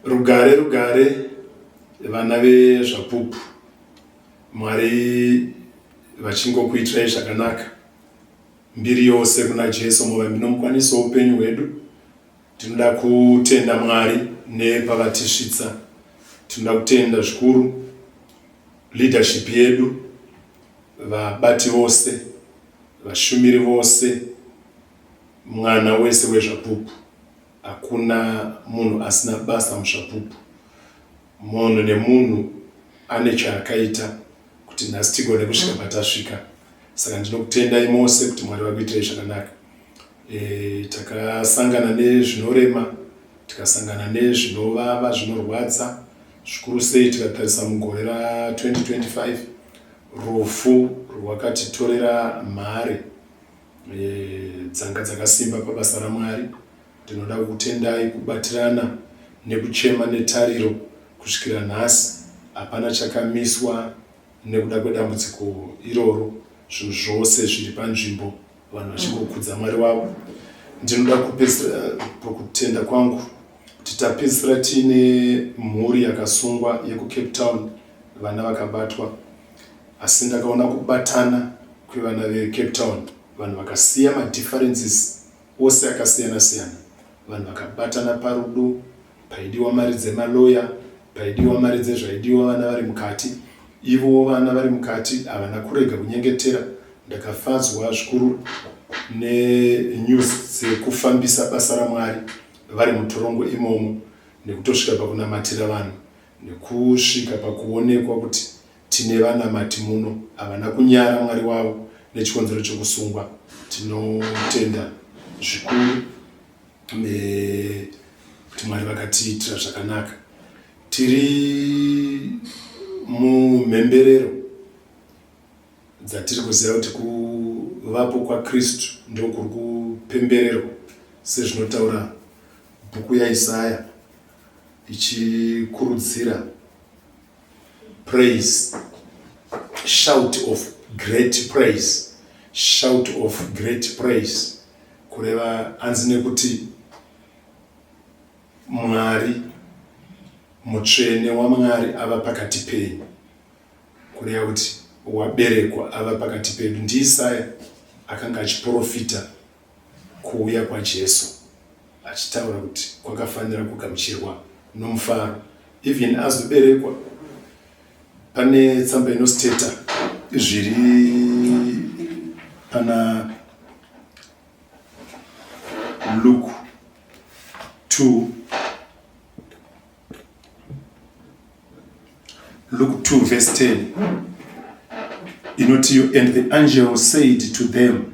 Rugare rugare vana veZvapupu, Mwari vachingokuitirai zvakanaka. Mbiri yose kuna Jesu muvambi nomukwanisi woupenyu hwedu. Tinoda kutenda Mwari nepavatisvitsa. Tinoda kutenda zvikuru leadership yedu, vabati vose, vashumiri vose, mwana wese weZvapupu. Hakuna munhu asina basa muZvapupu. Munhu nemunhu ane chaakaita kuti nhasi tigone kusvika patasvika. Saka ndinokutendai mose kuti Mwari vakuitirei zvakanaka. E, takasangana nezvinorema, tikasangana nezvinovava, zvinorwadza, zvikuru sei tikatarisa mugore ra 2025 rufu rwakatitorera mhare. eh, dzanga dzakasimba pabasa raMwari. Ndinoda kukutendai kubatirana nekuchema netariro kusvikira nhasi. Hapana chakamiswa nekuda kwedambudziko iroro. Zvinhu zvose zviri panzvimbo, vanhu vachingokudza Mwari wavo. Ndinoda kupedzisira pakutenda kwangu kuti tapedzisira tiine mhuri yakasungwa yekuCape Town, vana vakabatwa. Asi ndakaona kubatana kwevana veCape Town, vanhu vakasiya madifferences ose akasiyana siyana, vanhu vakabatana parudo, paidiwa mari dzemaloya, paidiwa mari dzezvaidiwa vana vari mukati, ivowo vana vari mukati havana kurega kunyengetera. Ndakafadzwa zvikuru nenews dzekufambisa basa raMwari vari mutorongo imomo nekutosvika pakunamatira vanhu. Nekusvika pakuonekwa kuti tine vanamati muno havana kunyara Mwari wavo nechikonzero chekusungwa. Tinotenda zvikuru nekuti Mwari vakatiitira zvakanaka. Tiri mumhemberero dzatiri kuziva kuti kuvapo kwaKristu ndokuri kupembererwa sezvinotaura bhuku yaIsaya. ichikurudzira praise shout of great praise shout of great praise kureva hanzi nekuti mwari mutsvene wamwari ava pakati penyu kureva kuti waberekwa ava pakati pedu ndiisaya akanga achiprofita Kuuya kwaJesu achitaura kuti kwakafanira kugamuchirwa nomufaro even azoberekwa. Pane tsamba inosteta zviri pana Luke 2 Luke 2 verse 10 inoti and the angel said to them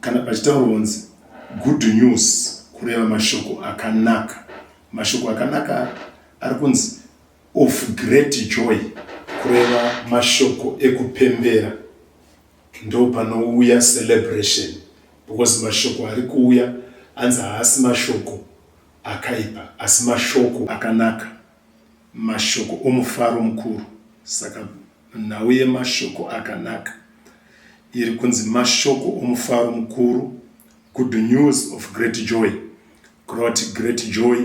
Kana pachitaurwa kunzi good news kureva mashoko akanaka. Mashoko akanaka ari kunzi of great joy kureva mashoko ekupembera. Ndo panouya celebration because mashoko ari kuuya anzi haasi mashoko akaipa asi mashoko akanaka. Mashoko omufaro mukuru. Saka nhau yemashoko akanaka iri kunzi mashoko omufaro mukuru, good news of great joy. Kureva kuti great joy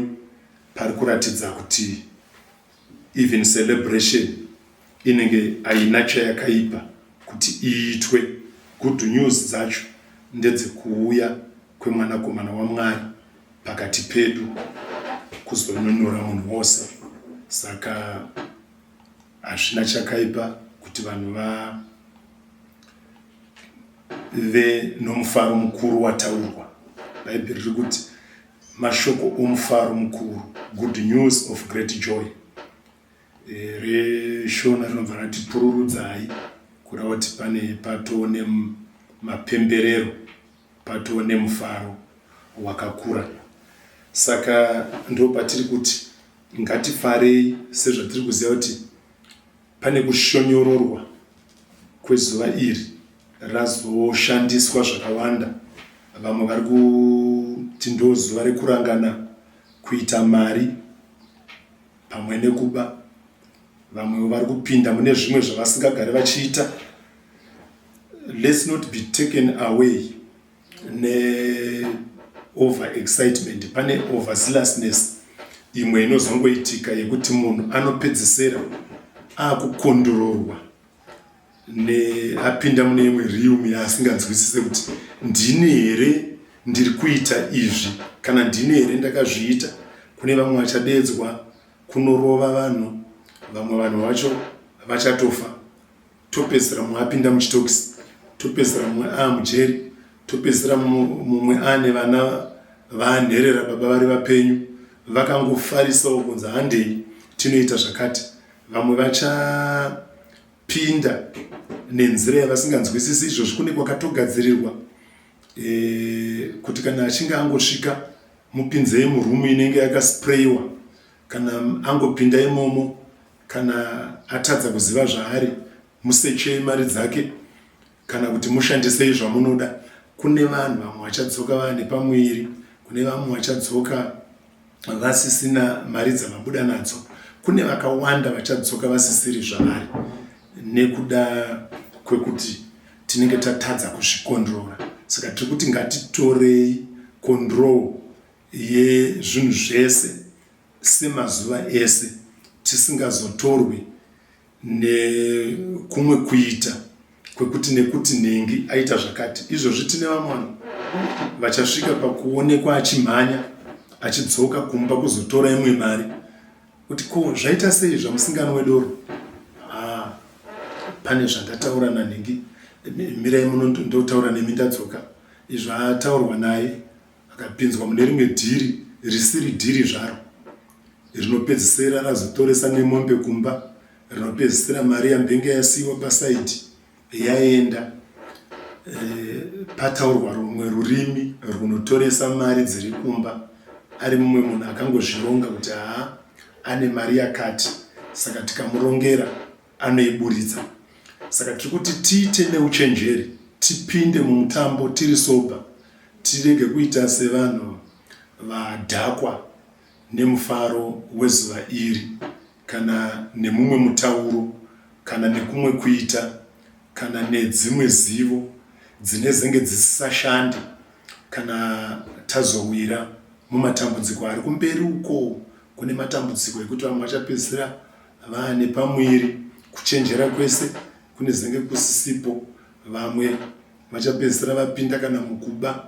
pari kuratidza kuti even celebration inenge haina chayakaipa kuti iitwe. Good news dzacho ndedzekuuya kwemwanakomana waMwari pakati pedu kuzonunura munhu wose saka hazvina chakaipa kuti vanhu vave nomufaro mukuru wataurwa bhaibheri riri kuti mashoko omufaro mukuru good news of great joy reshona rinobva rati pururudzai kureva kuti pane patoo nemapemberero patoo nemufaro wakakura saka ndo patiri kuti ngatifarei sezvatiri kuziva kuti pane kushonyororwa kwezuva iri razoshandiswa zvakawanda vamwe vari kuti ndo zuva rekurangana kuita mari pamwe nekuba vamwewo vari kupinda mune zvimwe zvavasingagari vachiita let's not be taken away neover excitement pane over zealousness imwe inozongoitika yekuti munhu anopedzisira akukondororwa apinda mune imwe realm yaasinganzwisise kuti ndini here ndiri kuita izvi kana ndini here ndakazviita kune vamwe vachadedzwa kunorova vanhu vamwe vanhu vacho vachatofa topedzisira mumwe apinda muchitokisi topedzisira mumwe aamujeri topedzisira mumwe ane vana vaanherera baba vari vapenyu vakangofarisawo kunzi handei tinoita zvakati vamwe vachapinda nenzira yavasinganzwisisi izvozvi kune kwakatogadzirirwa e, kuti kana achinge angosvika mupinzei murumu inenge yakasprayiwa kana angopinda imomo kana atadza kuziva zvaari musechei mari dzake kana kuti mushandisei zvamunoda kune vanhu vamwe vachadzoka vane pamuviri kune vamwe vachadzoka vasisina mari dzavabuda nadzo kune vakawanda vachadzoka vasisiri zvavari nekuda kwekuti tinenge tatadza kuzvikondrora saka tiri kuti ngatitorei control yezvinhu zvese semazuva ese tisingazotorwi nekumwe kuita kwekuti nekuti nhingi aita zvakati izvozvi tine vamwana vachasvika pakuonekwa achimhanya achidzoka kumba kuzotora imwe mari kuti ko zvaita sei zvamusingano wedoro ha pane zvandataura nanhingi mirai muno ndotaura nemi ndadzoka izvo ataurwa naye Akapinzwa mune rimwe dhiri risiri dhiri zvaro rinopedzisira razotoresa nemombe kumba rinopedzisira mari yambenge yasiiwa pasaidi yaenda eh, pataurwa rumwe rurimi runotoresa mari dziri kumba ari mumwe munhu akangozvironga kuti haa ane mari yakati saka tikamurongera anoiburitsa saka tiri kuti tiite neuchenjeri tipinde mumutambo tiri sober tirege kuita sevanhu vadhakwa nemufaro wezuva iri kana nemumwe mutauro kana nekumwe kuita kana nedzimwe zivo dzine zenge dzisisashandi kana tazowira mumatambudziko ari kumberi uko kune matambudziko ekuti vamwe vachapedzisira Vane pamuviri kuchenjera kwese kunezenge kusisipo vamwe vachapedzisira vapinda kana mukuba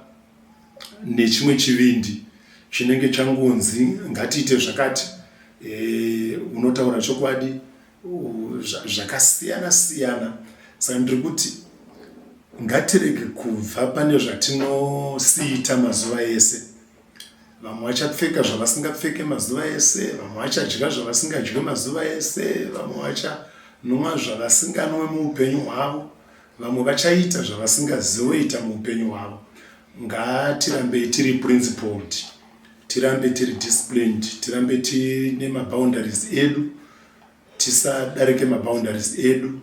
nechimwe chivindi chinenge changonzi ngatiite zvakati e, unotaura chokwadi zvakasiyana siyana saka ndiri kuti ngatirege kubva pane zvatinosiita mazuva ese vamwe vachapfeka zvavasingapfeke mazuva ese vamwe vachadya zvavasingadye mazuva ese vamwe vachanwa zvavasinganwe muupenyu hwavo vamwe vachaita zvavasingazivoita muupenyu hwavo ngatirambei tiri principled tirambe tiri disciplined tirambe tine maboundaries edu tisadarike maboundaries edu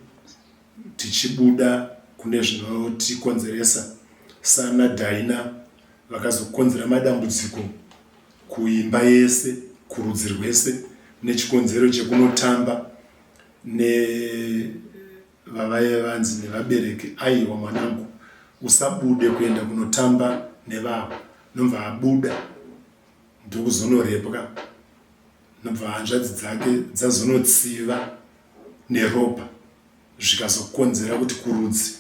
tichibuda kune zvinotikonzeresa sana daina vakazokonzera madambudziko kuimba yese kurudzi rwese nechikonzero chekunotamba nevavaive vanzi nevabereki aiwa mwanangu usabude kuenda kunotamba nevavo nobva abuda ndokuzonorepwa nobva hanzvadzi dzake dzazonotsiva neropa zvikazokonzera kuti kurudzi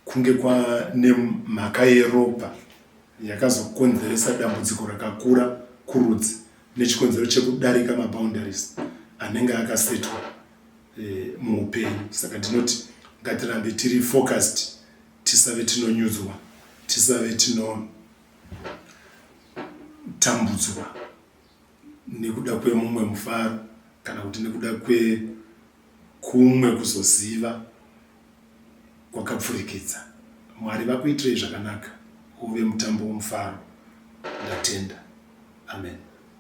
Kunge kwane mhaka yeropa yakazokonzeresa dambudziko rakakura kurudzi nechikonzero chekudarika maboundaries anenge akasetwa e, muupenyu saka tinoti ngatirambe tiri focused tisave tinonyudzwa tisave tinotambudzwa nekuda kwemumwe mufaro kana kuti nekuda kwekumwe kuzoziva kwakapfurikidza mwari vakuitirei zvakanaka uve mutambo womufaro ndatenda amen